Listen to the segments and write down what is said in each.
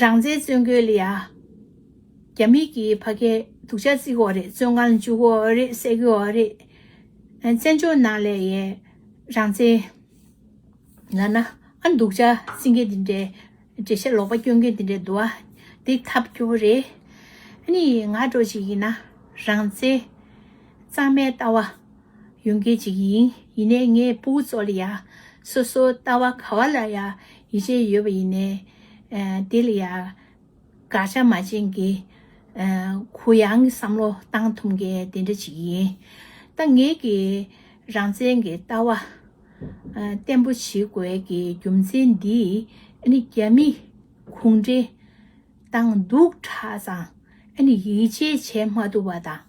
རང་བཙན་བཙོན་གོས་ལ་ཡ། རྒྱ་མིག་གི་ཕ་སྐད་སྡུག་ཅག་བརྩི་གོ་རེད་བཙོན་ཁང་ལ་འཇུག་གོ་རེད་བསད་གོ་རེད། བཙན་བྱོལ་ནང་ལས་ཡས་རང་བཙན། ལ་ན་ཨ་སྡུག་ཅག་བརྩི་མཁན་དེ་འདྲའི་འགྲེལ་བཤད་ལོག་པ་བསྐྱོན་མཁན་དེ་འདྲའི་འདུག་ཨ་འདི་ཐབས་སྐྱོ་བོ་རེད། ཨ་ནི་ང་འགྲོ་ཅིག་ཡིན་ན་རང་བཙན། གཙང་མའི་ལྟ་བ། ཡོང་མཁན་ཅིག་ཡིན་ཡིན་ནས་ངའི་སྤུ་བོ་ཙོ་ལི་ཡ། སོ་སོ་ལྟ་བ་ག་བ་ལ་ཡ་ཡི་ཆེ་ཡོད་པ་ཡིན་ནས། དེ་ལ་ཡ། དགག་བྱ་མ་བྱེད་མཁན། གུ་ཡངས་ཀྱི་བསམ་བློ་བཏང་ཐུབ་མཁན་དེ་འདྲ་ཅིག་ཡིན། ད་ངེད་ཀྱིས་རང་བཙན་གྱི་ལྟ་བ། བརྟན་པོ་བྱེད་དགོས་ཀྱི་རྒྱུ་མཚན་འདི་ནི་རྒྱ་མི་གུང་ཁྲན་ཏང་འདུག་གྲ་ཙང་ཡིད་ཆེས་བྱེད་མ་ཐུབ་པ་དང།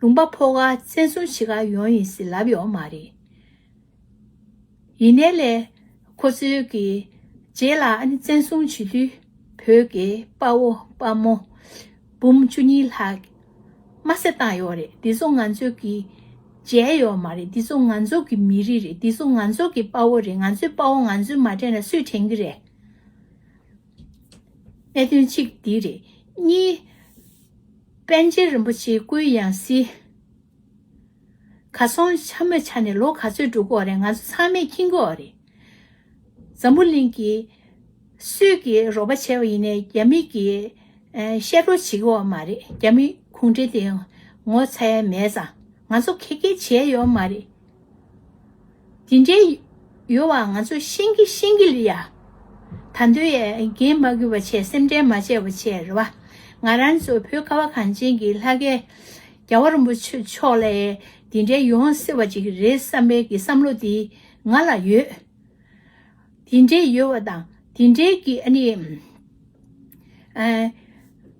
ལུང་པ་ཕོ་ཁ་བཙན་བཟུང་བྱེད་ཁ་ཡོང་ཡིན་སྲིད་ལབ་ཡོང་མ་རེད། ཡིན་ནའི་ལས། ཁོ་ཚོའི་གི། རྗེས་ལ་ཨ་ནི་བཙན་བཟུང་བྱེད་དུས། བོད་ཀྱི་དཔའ་བོ་དཔའ་མོ། འབུམ་བཅུ་གཉིས་ལྷག། དམར་བསད་བཏང་ཡོད་རེད་འདི་ཚོ་ང་ཚོའི་གི། རྗེས་ཡོད་མ་རེད་འདི་ཚོ་ང་ཚོ་གི་མི་རིགས་རེད་འདི་ཚོ་ང་ཚོ་གི་དཔའ་བོ་རེད་ང་ཚོའི་དཔའ་བོ་ང་ཚོའི་མ་དྲན་ན་སུས་དྲན་གི་རེད། གནད་དོན་གཅིག་འདི་རེད། གཉིས། པཎ་ཆེན་རིན་པོ་ཆེའི་སྐུའི་ཡང་སྲིད། གར་སོང་ཆ་མོད་ཆ་ནས་ལོ་ག་ཚོད་འགྲོ་གི་འོ་རེད་ང་ཚོ་ཚང་མས་མཁྱེན་གི་འོ་རེད། འཛམ་བུ་གླིང་གི། སུས་ཀྱི་རོགས་པ་བྱས་པ་ཡིན་ནས་རྒྱ་མི་གྱི། བཤད་སྒྲོག་བྱེད་ཀྱི་འོ་མ་རེད་རྒྱ་མི་གུང་ཁྲན་དེ་ངོ་ཚ་ཡ་མེད་ཙང་ང་ཚོ་ཁེ་གེ་བྱས་ཡོད་མ་རེད། དེ་འདྲའི་ཡོལ་བ་ང་ཚོ་ཤེས་ཀྱི་ཤེས་ཀྱི་ལི་ཡ། ད་འདོད་ཡས་རྒན་མ་གུས་པ་ཆེ་སེམས་ཁྲལ་མ་བྱས་པོ་ཆེ་རེད་བ། ང་རང་ཚོ་བོད་ཁ་བ་གངས་ཅན་གྱི་ལྷ་སྐལ། རྒྱ་བ་རིན་པོ་ཆེ་མཆོག་ལས་དེ་འདྲའི་ཡོང་བསྲེ་བ་ཅིག་རེད་བསམ་པའི་གི་བསམ་བློ་དེ་ང་ལ་ཡོད། དེ་འདྲའི་ཡོལ་བ་དང་དེ་འདྲའི་གི་ཨ་ནི།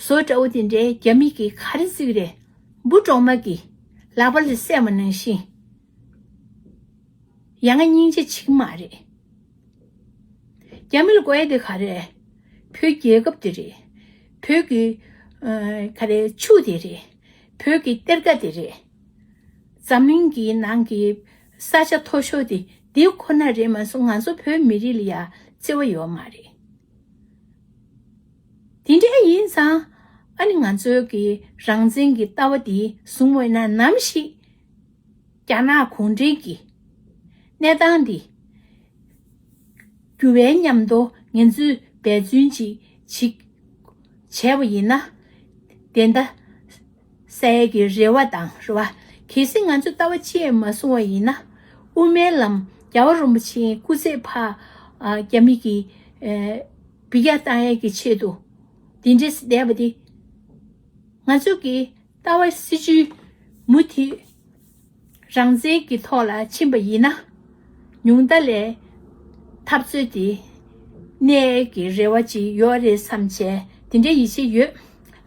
བཟོ་འདྲ་བོ་དེ་འདྲའི་རྒྱ་མིག་གིས་ག་རེ་གཟིགས་རེད། འབུ་གྲོག་མ་གིས་ལག་པ་ལས་སད་མ་ནང་ཞིང། ཡང་ང་སྙིང་རྗེ་བྱེད་ཀྱི་མ་རེད། རྒྱ་མི་ལ་གོའི་དེ་ག་རེ། བོད་རྒྱལ་ཁབ་དེ་རེད། བོད་ཀྱི། ག་རེ་ཆུ་དེ་རེད། བོད་ཀྱི་གཏེར་ཁ་དེ་རེད། འཛམ་གླིང་གི་ནང་གི་ས་ཆ་མཐོ་ཤོས་དེ་འདི་ཁོ་ན་རེད་མ་གསུངས་ང་ཚོ་བོད་མི་རིགས་ལ་ཡང་བརྩེ་བ་ཡོད་མ་རེད། དེ་འདྲ་ཡིན་ཙང། ཨ་ནི་ང་ཚོའི་གི་རང་བཙན་གྱི་ལྟ་བ་འདི་བཟུང་འོས་ན་ནམ་ཞིག། རྒྱ་ནག་གུང་ཁྲན་གྱི་གནས་སྟངས་འདི། འགྱུར་བའི་ཉམས་མདོ་ངན་ཚོས་འབད་བརྩོན་ཅིག་བྱེད། བྱས་པ་ཡིན་ན། དེ་འདའ། སའི་གི་རེ་བ་དང་རེ་བ། གལ་སྲིད་ང་ཚོས་ལྟ་བ་བཅས་མ་བཟུང་བ་ཡིན་ན། དབུ་མའི་ལམ་རྒྱ་བ་རོན་པོ་ཆེའི་སྐུ་ཚེ་འཕགས། རྒྱ་མི་གི། བི་ཀྱ་བཏང་ཡས་ཀྱི་ཆེད་དུ་འདི་འདྲས་བསྡད་པ་འདི། ང་ཚོ་གི་ལྟ་བ་སྲིད་བྱུས་མུ་མཐུད་རང་བཙན་གྱི་ཐོག་ལ་ཕྱིན་པ་ཡིན་ན། ཉུང་མཐའ་ལས་འཐབ་རྩོད་འདི་གནས་ཀྱི་རེ་བ་ཅིག་ཡོད་རེད་བསམ་བྱས་འདི་འདྲའི་ཡིད་ཆེས་ཡོད།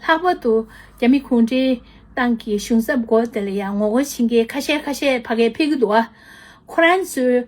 ལྷག་པར་དུ་རྒྱ་མི་གུང་ཁྲན་ཏང་གི་གཞུང་ཚབ་སྒོ་དེ་ལ་ཡང་ངོ་རྒོལ་བྱེད་མཁན་ཁ་ཤས་ཁ་ཤས་ཕ་གས་ཕི་གི་འདུག་ཨ། ཁོ་རང་ཚོའི།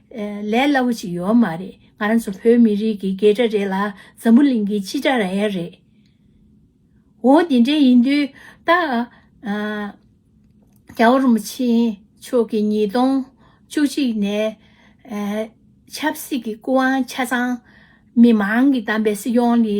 ལས་སླ་བོ་ཅིག་ཡོད་མ་རེད་ང་རང་ཚོ་བོད་མི་རིགས་ཀྱི་རྒྱལ་དྲ་རེད་ལ་འཛམ་བུ་གླིང་གི་སྤྱི་དྲ་ར་ཡ་རེད། འོ་དེ་འདྲ་ཡིན་དུས་ད། རྒྱ་བོ་རུ་མ་ཆེན་མཆོག་གིས་ཉིས་སྟོང་བཅུ་གཅིག་ནས་ཆབ་སྲིད་ཀྱི་སྐུ་དབང་ཆ་ཚང་མི་མང་གི་བདམས་པའི་སྲིད་སྐྱོང་ལི།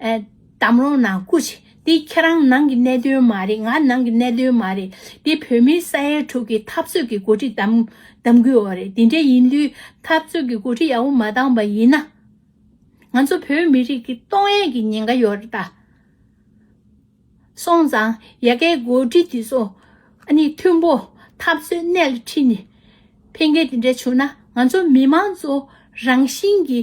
གཏམ་རོང་ནང་སྐུ། དེ་ཁྱེད་རང་ནང་གི་གནད་དོན་མ་རེད་ང་ནང་གི་གནད་དོན་མ་རེད་དེ་བོད་མིའི་ས་ཡའི་དྲུག་གི་འཐབ་རྩོད་ཀྱི་འགོ་ཁྲིད་གདམ་དགོས་བ་རེད་དེ་འདྲ་ཡིན་དུས་འཐབ་རྩོད་ཀྱི་འགོ་ཁྲིད་ཡག་པོ་མ་གདམ་པ་ཡིན་ན། ང་ཚོ་བོད་མི་རིགས་ཀྱི་སྟོང་ཡས་ཀྱི་ཉེན་ཁ་ཡོད་རེད་ད། སོང་ཙང་ཡ་གའི་འགོ་ཁྲིད་དེ་ཚོ་ཨ་ནི་མཐུན་པོ་འཐབ་རྩོད་གནད་ལ་ཁྲིད་ནས་ཕན་ཁེ་དེ་འདྲ་བྱུང་ན་ང་ཚོ་མི་མང་གཙོ་རང་བཞིན་གྱི།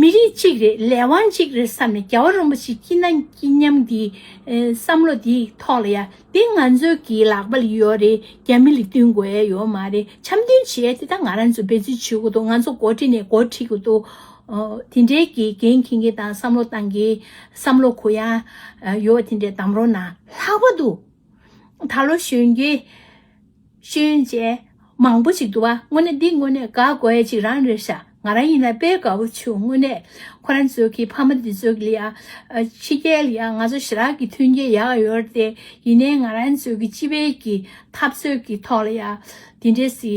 མི་རིགས་གཅིག་རེད་ལས་དབང་གཅིག་རེད་བསམ་ནས་རྒྱལ་བ་རིན་པོ་ཆེ་སྐྱིད་ན་སྐྱིད་སྙམ་འདི་བསམ་བློ་འདི་ཐོག་ལ་ཡ་འདི་ང་ཚོའི་གི་ལག་པ་ལ་ཡོད་རེད་རྒྱ་མི་ལ་བསྟུན་དགོས་ཡ་ཡོད་མ་རེད་འཆམ་མཐུན་བྱེད་དེ་ད་ང་རང་ཚོ་འབད་བརྩོན་བྱེད་དགོས་འདུག་ང་ཚོ་འགོ་ཁྲིད་ནས་འགོ་ཁྲིད་དགོས་འདུག་དེ་འདྲའི་གི་འགན་མཁྱེན་མཁན་དང་བསམ་བློ་གཏང་མཁན་བསམ་བློ་གུ་ཡངས་ཡོད་དེ་འདྲའི་གདམ་རོགས་གནང་ལྷག་པ་འདུག་ད་ལོ་གཞོན་སྐྱེས། ཤེས་ཡོན་ཅན། མང་པོ་ཞིག་འདུག་ཨ་དངོས་གནས་འདི་དངོས་གནས་དགའ་དགོས་ཡ་ཅིག་རང་རེད་ཤག་ང་རང་ཡིན་ན་དཔེ་དགའ་བོ་བྱུང་དངོས་གནས་ཁོ་རང་ཚོའི་གི་ཕ་མ་འདི་ཚོའི་གི་ལ་ཕྱི་རྒྱལ་ཡ་ང་ཚོ་ཞི་རགས་གི་མཐུན་རྐྱེན་ཡག་ག་ཡོད་རེད་དེ་ཡིན་ནའི་ང་རང་ཚོའི་གི་སྤྱི་བའི་གི་འཐབ་རྩོད་གི་ཐོག་ལ་ཡ་འདི་འདྲའི་སི་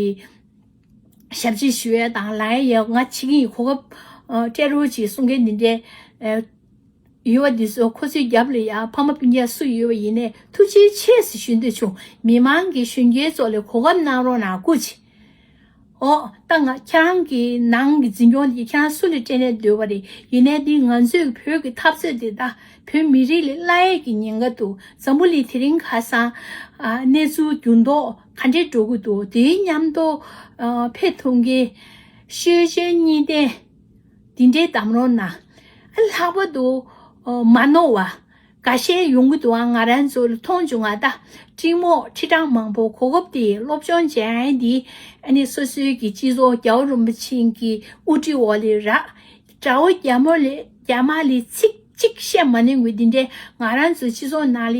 ཞབས་ཅིག་ཞུ་ཡ་དང་ལ་ཡ་ཡ་ང་ཕྱི་གི་གོ་སྐབས་སྤྲད་རོགས་ཅིག་གསུང་མཁན་འདི་འདྲའི། ཡུལ་བ་འདི་ཚོ་ཁོ་ཚོའི་རྒྱབ་ལ་ཡང་ཕ་མ་སྤུན་མཆེད་སུ་ཡོད་པ་ཡིན་ནས་ཐུགས་རྗེའི་ཆེད་ཟེར་ཞུ་འདོད་བྱུང་མི་མང་གི་གཞོན་སྐྱེས་ཚོ་ལས་གོ་སྐབས་གནང་རོགས་གནང་ཀུ་ཅི། ཨོ། ད་ང་ཁྱེད་རང་གི་ནང་གི་འཛིན་སྐྱོང་དེ་ཁྱེད་རང་སུ་ལས་སྤྲད་ནས་སྡོད་པ་རེད་ཡིན་ནའི་འདི་ང་ཚོས་ཀྱི་བོད་ཀྱི་འཐབ་རྩོད་དེ་ད་བོད་མི་རིགས་ལས་སླ་ཡས་ཀྱི་ཉེན་ཁ་འདུག་འཛམ་བུ་གླིང་དེ་རིང་ཁ་སང། གནས་ཚུལ་འགྱུར་མདོག་ག་འདྲས་འགྲོ་གི་འདུག་དེའི་ཉམས་རྟོགས་ཕེབས་ཐུབ་མཁན། ཤེས་བྱའི་གཉིས་ལྡན། དེ་འདྲའི་གཏམ་རོ་ན་ལྷག་པ་དུ་མ་ནོར་བ་ག་ཤེད་ཡོང་གི་འདུག་ཨང་ང་རང་ཚོ་མཐོང་བྱུང་ང་ད་སྤྲིང་མོ་ཁྲི་བྲང་མང་པོ་གོ་སྐབས་དེ་སློབ་སྦྱོང་ཅན་དེ་ནི་སོ་སོའི་གི་སྤྱི་ཚོགས་རྒྱ་བོ་རིན་པོ་ཆེན་གི་དབུ་ཁྲིད་འོག་ལས་ར་དགྲ་བོ་རྒྱ་མོ་ལས་རྒྱ་མ་ལས་ཚིག་གཅིག་བཤད་མ་ནི་འགུལ་དེ་འདྲའི་ང་རང་ཚོའི་སྤྱི་ཚོགས་ནང་ལས་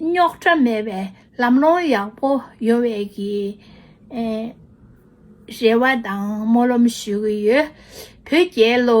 རྙོག་དྲ་མེད་པའི་ལམ་ལྷོང་ཡག་པོ་ཡོང་བའི་གྱི་རེ་བ་དང་སྨོན་ལམ་ཞུ་གི་ཡོད་བོད་རྒྱལ་ལོ།